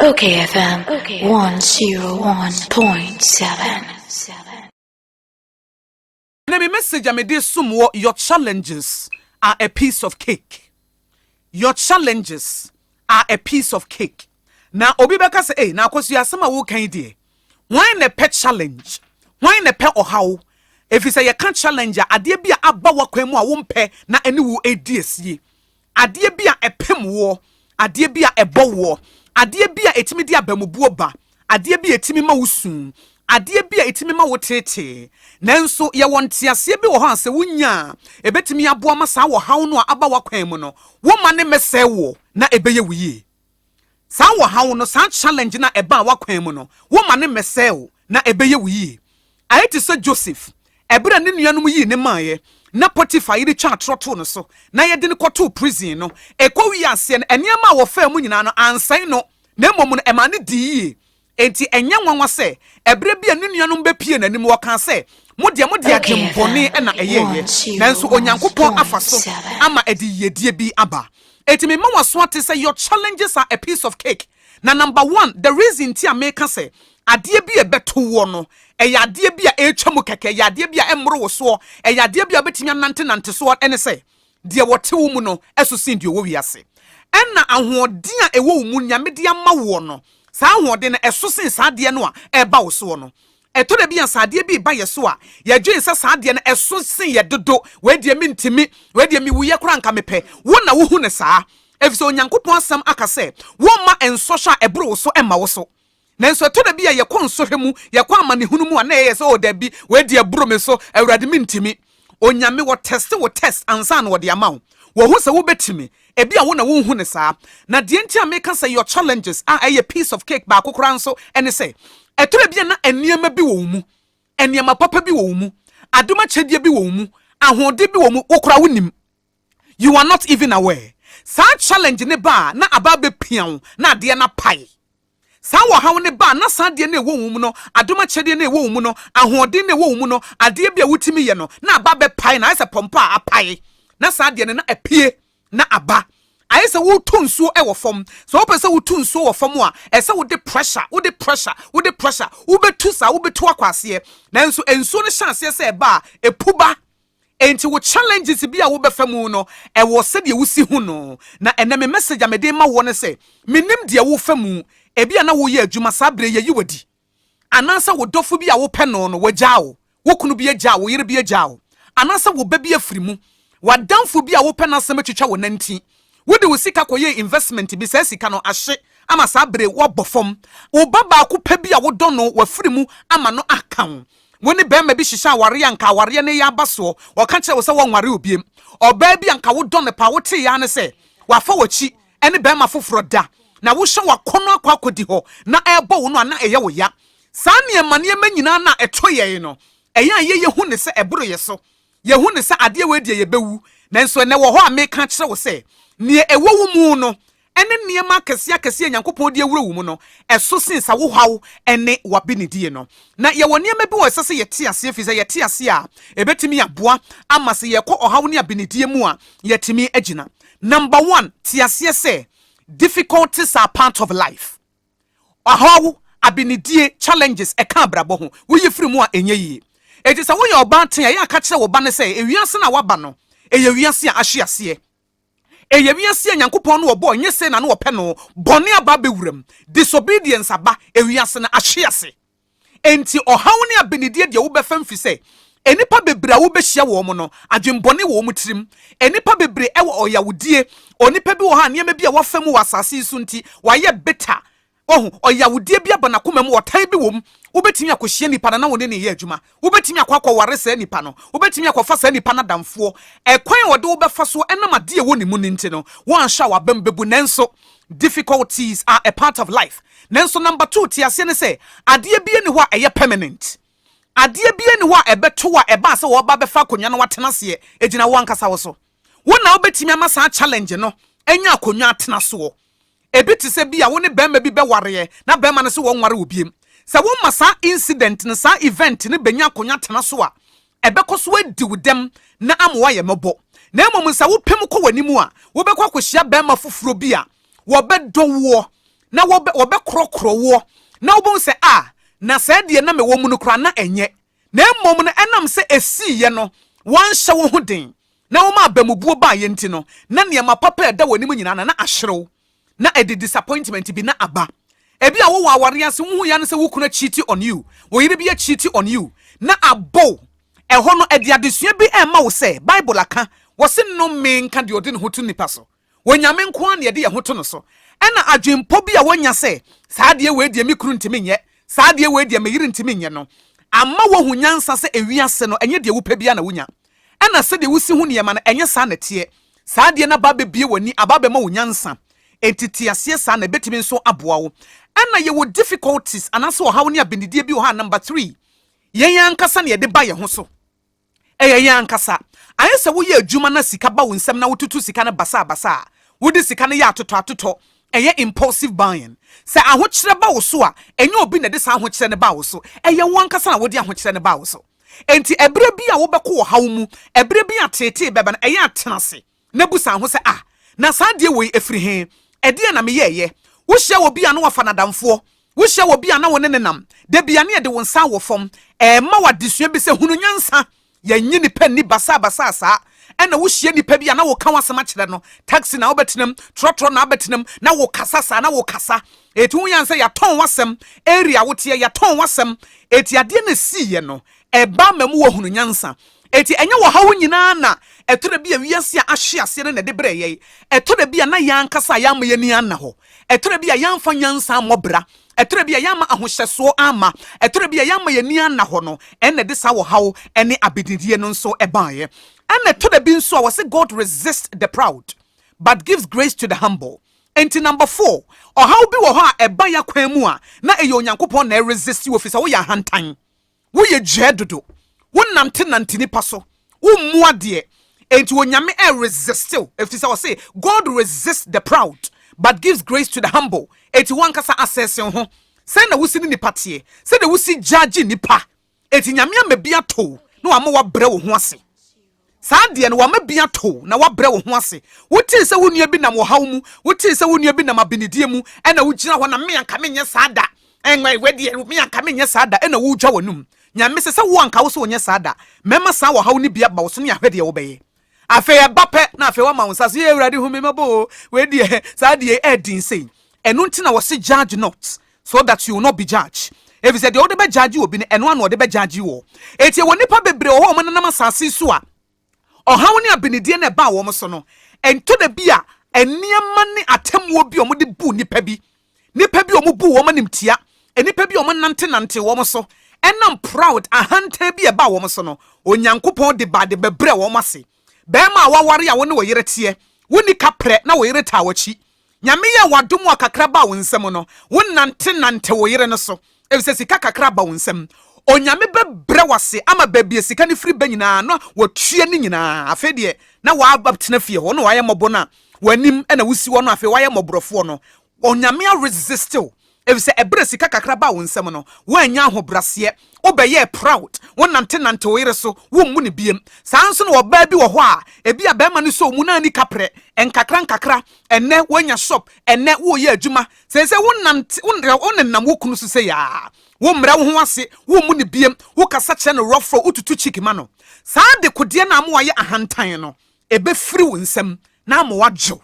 Okay FM 101.7. Ɛnɛ me message a mede som wɔ Your challenges are a piece of cake. Your challenges are a piece of cake. Na obi bɛka sɛ, ei, na akɔso yɛ asɛm a woka yi deɛ. Hwan na ɛpɛ challenge? Hwan na ɛpɛ ɔhaw? Ɛfiri sɛ yɛka challenge a, adeɛ bi a aba w'akwan mu a wompɛ na ɛne wo ɛredi asie. Adeɛ bi a ɛpem woɔ, adeɛ bi a ɛbɔ woɔ, adeɛ bi a ɛtumi de abamubuo ba, adeɛ bi a ɛtumi ma wo su, adeɛ bi a ɛtumi ma wo teetee. Nanso yɛwɔ nteaseɛ bi wɔ hɔ a sɛ wo nya a, ɛbɛtumi aboa ma saa ɔhaw no a aba w'akwan mu no, wo mma no mmɛsɛe woɔ na ɛbɛyɛ wo yie. Saa wɔhaw no, saa challenge no a ɛbaa w'akwan mu no, womma no mmɛsɛe wo, na ɛbɛyɛ wo yie. Ayɛ te sɛ Joseph, ɛberɛ a ne nuanom yii no maeɛ, na Potiphar yere twaa atorɔ too no so, na yɛde no kɔtoo prison no. Ɛkɔwii aseɛ no, nneɛma a wɔfaa mu nyinaa no, ansɛe no, na mmom no, ɛmaa no dii yie. Enti ɛnyɛ nwanwa sɛ ɛberɛ bi a ne nuanom bɛpuee n'anim, wɔkaa sɛ, Mo deɛ mode adwen bɔne na ɛyɛeɛ, nanso Onyankopɔn afa so ama ɛde yiedie bi aba. Enti mema wo aso ate sɛ your challenges are a piece of cake, na number one, the reason nti a meka sɛ adeɛ bi a ɛbɛto woɔ no, ɛyɛ adeɛ bi a ɛretwa mu kɛkɛ, ɛyɛ adeɛ bi a ɛmmoro wo soɔ, ɛyɛ adeɛ bi a wobɛtumi anantenante soɔ ne sɛ, Deɛ wɔte wo mu no so sen deɛ ɔwɔ wiase. Ɛnna ahoɔden a ɛwɔ wo mu Nyame de ama woɔ no, saa ahoɔden no, ɛso sen saa adeɛ no a ɛreba wo soɔ no. Ɛtɔ da bi a, sɛ adeɛ bi reba yɛ so a, yɛdwen sɛ saa adeɛ no ɛso sen yɛ dodo, wei deɛ mentumi, wei deɛ mewuiɛ koraa anka mepɛ. Wo na wohu no saa, ɛfiri sɛ Onyankopɔn Asɛm aka sɛ, Wɔmma nsɔhwɛ a ɛboro wo so mma wo so. Nanso ɛtɔ da bi a yɛkɔ nsɔhwɛ mu, yɛkɔ amanehunu mu a na yɛyɛ sɛ, oh dabi, wei deɛ aburo me so, Awurade mentumi. Onyame, wɔtɛste wo test ansa na wɔde ama wo. Wɔhu sɛ wobɛtumi. Ebia wo na wonhu no saa. Na deɛ nti a meka sɛ your challenges a ɛyɛ piece of cake baako koraa nso ne sɛ, ɛtɔ da bi a na nneɛma bi wɔ wo mu, nneɛma papa bi wɔ wo mu, adom akyɛdeɛ bi wɔ wo mu, ahoɔden bi wɔ wo mu, wo koraa wonim. You are not even aware Saa challenge no ba a na aba abɛpia wo na adeɛ no apae Saa ɔhaw no ba a na saa adeɛ no a ɛwɔ wo mu no adom akyɛdeɛ no a ɛwɔ wo mu no ahoɔden no a ɛwɔ wo mu no adeɛ bi a wotumi yɛ no na aba abɛpae na ayɛ sɛ pɔmpɔ a apae na saa adeɛ no na apue na aba ayɛ sɛ woretu nsuo wɔ fam sɛ wopɛ sɛ wotu nsuo wɔ fam a ɛsɛ sɛ wode pressure wode pressure wode pressure wobɛtu saa wobɛtu akɔ aseɛ nanso nsuo no hyɛ aseɛ sɛ ɛba a ɛpu ba Enti wo challenges bi a wobɛfa mu no, ɛwɔ sɛdeɛ wosi hu no. Na ɛnnɛ me message a mede rema woɔ ne sɛ, mennim deɛ wofa mu, ebia na woreyɛ adwuma, saa berɛ yi yɛayi wo adi. Anaasɛ wo dɔfo bi a wopɛ no no, wagyaa wo. Wo kunu bi agyaa wo, wo yere bi agyaa wo. Anaasɛ wo ba bi afiri mu. W'adamfo bi a wopɛ n'asɛm atwitwa wo nantin. Wode wo sika kɔyɛɛ investment bi, saa sika no ahye ama saa bere yi woabɔ fam. Wo ba baako pɛ bi a wodɔ no, wafiri mu ama no aka wo. Wo ne barima bi hyehyɛ aware a anka awareɛ no reyɛ aba soɔ, ɔka kyerɛɛ wo sɛ wɔnware wo biom. Ɔbaa bi a anka wodɔ no paa, woteeɛ ara ne sɛ wafa w'akyi ne barima foforɔ da, na wohyɛ w'akɔnnɔ akɔ akɔdi hɔ na ɛrebɔ wo no a, na ɛyɛ wo ya. Saa nneɛma nneɛma nyinaa no a ɛto yɛn no, ɛyɛ a yɛyɛ hu no sɛ ɛboro yɛn so. Yɛahu no sɛ adeɛ wei deɛ yɛbɛwu, nanso ɛnnɛ wɔ hɔ a meka akyerɛ wo sɛ neɛ ɛwɔ wo mu no ne nneɛma akɛseɛ akɛseɛ a Nyankopɔn de awura wo mu no, ɛso sen sa wohaw ne w'abenedie no. Na yɛwɔ nneɛma bi wɔ hɔ a ɛsɛ sɛ yɛte aseɛ, ɛfiri sɛ yɛte aseɛ a, ɛbɛtumi aboa ama sɛ yɛkɔ ɔhaw ne abenedie mu a, yɛatumi agyina. Number one, te aseɛ sɛ difficulties are part of life. ɔhaw, abenedie, challenges, ɛka abrabɔ ho, woyi firi mu a ɛnyɛ yie. Enti sɛ woyɛ ɔbaa tee a, yɛ a ka kyerɛ wo ba no sɛ ewiase no a woaba no, ɛyɛ wiase a ahye aseɛ. Ɛyɛ wiase a Nyankopɔn no ɔbɔɔ nyɛ sei na na ɔpɛ no, bɔne aba abɛwura mu, disobedience aba, ewiase no ahye ase. Enti ɔhaw ne abenedie deɛ wobɛfa mfiri sɛ nnipa bebree a wobɛhyia wɔn no, adwembɔne wɔ wɔn tirim. Nnipa bebree wɔ ɔyawdie. Onipa bi wɔ hɔ a nneɛma bi a wafa mu wɔ asase yi so nti, wayɛ bitter. Wahu, ɔyawdie bi aba n'akoma mu, ɔtan bi wɔ mu. Wobɛtumi akɔhyia nipa no na wo ne no reyɛ adwuma. Wobɛtumi akɔ akɔware saa nipa no. Wobɛtumi akɔfa saa nipa no adamfoɔ. Ɛkwan a ɔde wo bɛfa so ɛnam adeɛ a ɛwɔ ne mu no nti no, woanhwɛ a w'abam bɛbu. Nanso, difficulties are a part of life. Nanso, number two, te aseɛ ne sɛ, adeɛ biara nni hɔ a ɛyɛ permanent. Adeɛ biara nni hɔ a ɛbɛto wo a ɛbaa sɛ wɔreba abɛfa akonnwa no woatena aseɛ. Ɛgyina wo ankasa wo so. Wo na wobɛtumi ama saa challenge no anya akonnwa atena soɔ. Ebi te sɛ bi a wo ne barima bi bɛwareɛ na barima no se wɔnware wo biem. Sɛ woma saa incident no, saa event no bɛnya akonya tena so a, ɛbɛkɔ so adi wo dɛm na ama woayɛ mmɔbɔ. Na mmom sɛ wopem kɔ w'anim a, wobɛkɔ akɔhyia barima foforɔ bi a wɔbɛdɔ woɔ na wɔbɛ, wɔbɛkorɔkorɔ woɔ na wobɛhu sɛ a, na saa deɛ na mewɔ mu no koraa na ɛnyɛ. Na mmom no ɛnam sɛ ɛsiiɛ no, woanhyɛ wo ho den na wɔma abamubuo baa yɛn nti no, na nneɛma papa a ɛda wɔn anim nyinaa na na ahyerew, na ɛde disappointment bi na aba. Ebia wowɔ aware ase, wuhu yɛ ara ne sɛ wo kunu akyiti on you, wo yere bi akyiti on you, na abow. Ɛhɔ no, ɛde adesua bi rema wo sɛ Bible aka, wɔse, Nnome nka deɛ ɔde ne ho to nnipa so. Onyame nko ara na yɛde yɛn ho to no so. Ɛnna adwempɔ bi a wonya sɛ, 'Saa adeɛ wei deɛ, me kunu ntumi nyɛ. Saa adeɛ wei deɛ, me yere ntumi nyɛ' no ama woahu nyansa sɛ ewiase no, ɛnyɛ deɛ wopɛ biara na wunya. Ɛnna sɛdeɛ wusi hu nneɛma no, ɛnyɛ saa na ɛteɛ. Saa adeɛ no aba abebue w'ani, aba abɛma wo nyansa. Enti te aseɛ saa, na ebetumi nso aboa wo. Ɛnna yɛwɔ difficulties, anaasɛ ɔhaw ne abɛnidie bi wɔ ha a, number three, yɛn ankasa na yɛde ba yɛn ho so. Ɛyɛ yɛn ankasa. Anyɛ sɛ woyɛ adwuma na sika ba wo nsam na wotutu sika no basabasa a, wode sika no yɛ atotɔatotɔ. Ɛyɛ impulsive buying. Sɛ ahokyerɛ ba wo so a, ɛnyɛ obi na ɛde saa ahokyerɛ no baa wo so. Ɛyɛ wo ankasa na wode ahokyerɛ no baa wo so. Enti ɛberɛ bi a wobɛkɔ ɔhaw mu, ɛberɛ bi a teetee bɛba no, ɛyɛ a tena ase. na bu san ho sɛ, Ah, na saa adeɛ woi firi he? Ɛdeɛn na meyɛeɛ? Wohyia obi a na wafa n'adamfoɔ. Wohyia obi a na wo ne no nam da biara ne ɛde wo nsa awɔ fam. Ɛrema wo adesua bi sɛ hunu nyansa. Yɛnnye nnipa nni basaabasaa saa. Ɛna wohyia nnipa bi a na woka w'asɛm akyerɛ no, taxi na wobɛtenam, trɔtrɔ na wobɛtenam, na wokasa saa na wokasa. Eti ho yan sɛ yɛatɔn w'asɛm, area a woteɛ, yɛatɔn w'asɛm. Eti adeɛ no a ɛsiiɛ no, ɛbaa ma mu wɔ hunu nyansa. Enti, ɛnyɛ ɔhaw nyinaa na ɛtɔ da bi a wiase a ahwe ase no na ɛde brɛ yɛn. Ɛtɔ da bi a na yɛn ankasa yɛamma yɛn ani anna hɔ. Ɛtɔ da bi a yɛamfa nyansa ammɔ bra. Ɛtɔ da bi a yɛamma ahohyɛsoɔ amma. Ɛtɔ da bi a yɛamma yɛn ani anna hɔ no, ɛnna ɛde saa ɔhaw ne abedidie no nso baeɛ. Ɛnna ɛtɔ da bi nso a wɔse God resists the proud, but gives grace to the humble. Enti, number four, ɔhaw bi wɔ hɔ a ɛba yɛn akwan mu a, na ɛyɛ Onyankopɔn na ɛresist wo, ɛfiri sɛ woyɛ ahantan. Woyɛ dwɛɛ dodo. Wo nante nante nipa so. Wo mmu adeɛ. Enti Onyame ɛ resist wo. Efisɛ ɔse God resists the proud but gives grace to the humble. Enti wo ankasa assess wo ho. Sɛn na wosi ne nipa teɛ? Sɛdeɛ wosi judge nipa. Enti Nyame ama bi ato wo na wama wo abrɛ wo ho ase. Saa deɛ no, wama bi ato wo, na woabrɛ wo ho ase. Wotee sɛ wo nua bi nam ɔhaw mu. Wotee sɛ wo nua bi nam abenedie mu, ɛna wogyina hɔ na, me anka menyɛ saa da, ɛnwɛ, wɛ deɛ, me anka menyɛ saa da, ɛna wodwa w'anum. Nyame se sɛ wo anka wo se wonyɛ saa da, mɛma saa ɔhaw no bi aba wo so ne ahwɛ deɛ wobɛyɛ. Afei ɛba pɛ na afei woama wo nsa so, yee Awurade hu me mmɔbɔ o, wei deɛ, saa deɛ ɛyɛ den sei. Ɛno nti na wɔse judge not, So that you will not be judged. Efisɛ deɛ wode bɛgyagye obi no, ɛno ara na wɔde bɛgyagye wo. Enti ɛwɔ nnipa bebree wɔ hɔ a wɔnenam asase so a, ɔhaw ne abenedie na ɛbaa wɔn so no, ɛntɔ da bi a nneɛma ne atemmuo bi a wɔde bu nnipa bi, nnipa bi a wɔbu wɔn animtia, nnipa bi a wɔnantenante wɔn so, ɛnam proud, ahantan bi a ɛbaa wɔn so no, Onyankopɔn de ba de bɛbrɛ wɔn ase. Bɛrima a waware a wo ne wo yere teɛ, wonni kaprɛ na wo yere taa w'akyi. Nyame yɛɛ wo adom a kakra baa wo nsam no, wonante nante wo yere no so, efisɛ sika kakra aba wo nsam. Onyame bɛbrɛ wo ase ama baabi a sika no firi ba nyinaa na watua ne nyinaa. Afei deɛ, na w'abɛtena fie hɔ, na w'ayɛ mmɔbɔ no a, w'anim na wosi hɔ no, afei w'ayɛ mmɔborɔfoɔ no, Onyame aresiste wo, Efisɛ ɛberɛ sika kakra baa wo nsam no, woannya ahobraseɛ, wobɛyɛɛ proud, wo nante nante wo yere so, wo mmu no biem. Saa ara nso na ɔbaa bi wɔ hɔ a, ebia barima no sɔɔ mu na anni kaprɛ, nkakra nkakra, ɛnnɛ woanya shop, ɛnnɛ woreyɛ adwuma, seesei wo nante, wo nenam wo kunu so sei ara, wo mmrɛ wo ho ase, wo mmu no biem, wo kasa kyerɛ no rough rough, wo tutu cheek ma no. Saa dekodeɛ no a ama wayɛ ahantan no, ɛbɛfiri wo nsam na ama wadwo.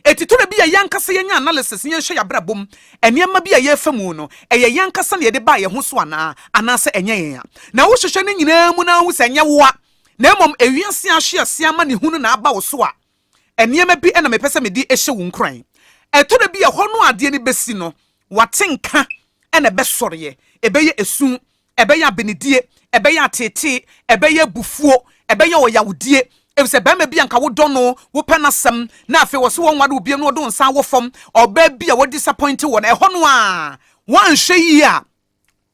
Enti tore bi a yɛn ankasa yɛnyɛ analysis na yɛnhwɛ yɛn abrabɔ mu nneɛma bi a yɛrefa mu no, ɛyɛ yɛn ankasa na yɛde baa yɛn ho so anaa, anaasɛ ɛnyɛ yɛn a. Na wohwehwɛ ne nyinaa mu na woahu sɛ ɛnyɛ wo a, na mmom ewiase ahwe ase amanehunu na aba wo so a, nneɛma bi na mepɛ sɛ mede hyɛ wo nkuran. Ɛtore bi a ɛhɔ no a adeɛ no bɛsi no, w'atenka na ɛbɛsɔreɛ, ɛbɛyɛ esu Ɛbɛyɛ abenedie, ɛbɛyɛ ateetee, ɛbɛyɛ abufuo, ɛbɛyɛ ɔyawdie, efisɛ barima bi a anka wodɔ no, wopɛ n'asɛm, na afei ɔse wɔnware wo bio na ɔde wo nsa awɔ fam, ɔbaa bi a wɔadisapɔinte wɔ no, ɛhɔ no ara, woanhwɛ yie a,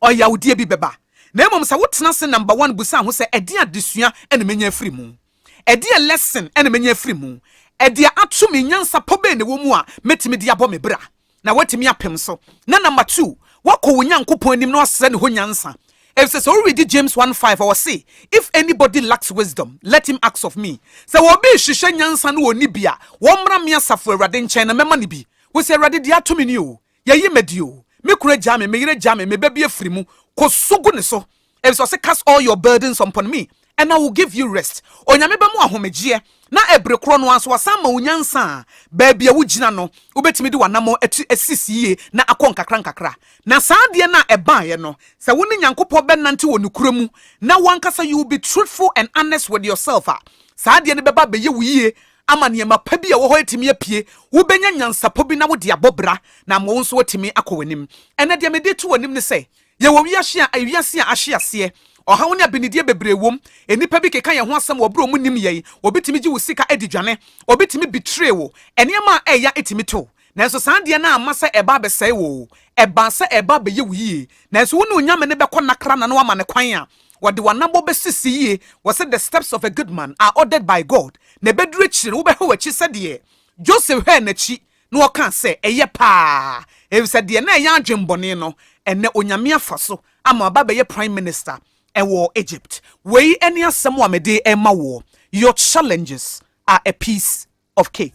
ɔyawdie bi bɛba. Na mmom sɛ wotena ase number one bisa ho sɛ, 'Ɛdeɛn adesua na mɛnya afiri mu? Ɛdeɛn lesson na mɛnya afiri mu? Ɛdeɛ ato me, nyansa pa bɛn na ɛwɔ mu a mɛtumi de abɔ me bra na woatumi apem so? Na number two, woakɔ wo Nyankopɔn anim na woasrɛ ne hɔ nyansa. Ɛfisɛ sɛ wo readi James one five a, ɔse, If anybody lacks wisdom, let him ask of me. Sɛ obi rehwehwɛ nyansa na ɔnni bi a, ɔmmra me Asafo Awurade nkyɛn na mɛma no bi. Wose, Awurade, deɛ ato me nie o, Yɛyi madi o, me kunu agyaa me, me yere agyaa me, me ba bi afiri mu, kɔ su gu ne so, ɛfisɛ ɔse cast all your burdens upon me and I will give you rest. Onyame bɛma wo ahomegyeɛ na ɛbere korɔ no ara nso wasan ama wo nyansa a baabi a wogyina no wobɛtumi de w'anamɔn atu asisi yie na akɔ nkakra nkakra. Na saa adeɛ no a ɛbaeɛ no, sɛ wo ne Nyankopɔn bɛnante wɔ nokorɛ mu na wo ankasa you will be truthful and honest with yourself a, saa adeɛ no bɛba abɛyɛ wo yie ama nneɛma pa bi a ɛwɔ hɔ atumi apue, wobɛnya nyansapɔ bi na wode abɔ bra na ama wo nso atumi akɔ w'anim. Ɛnnɛ deɛ mede reto w'anim ne sɛ, yɛwɔ wiase a wiase a ahye aseɛ. Ɔhaw ne abinideɛ bebree wom. Nnipa bi keka yɛn ho asɛm wɔ berɛ a wɔnnim yɛn. Obi tumi gye wo sika di dwane. Obi tumi betray wo. Nneɛma a ɛyɛ ya tumi to. Nanso saa adeɛ no amma sɛ ɛreba abɛsɛe wo o. Ɛbaa sɛ ɛreba abɛyɛ wo yie. Nanso wo ne Onyame no bɛkɔ nna kra na na woama no kwan a, Wɔde w'anabɔ bɛsisi yie, wɔse the steps of a good man are ordered by God, na ɛbɛduru akyire no wobɛhwɛ w'akyi sɛdeɛ Joseph hwɛɛ n'akyi na ɔkaa sɛ, Ɛyɛ paa, efisɛ deɛ na ɛyɛ adwemmɔne no, ɛnnɛ Onyame afa so ama waba abɛyɛ Prime Minister wɔ Egypt. Wei ne asɛm a mede rema woɔ, Your challenges are a piece of cake.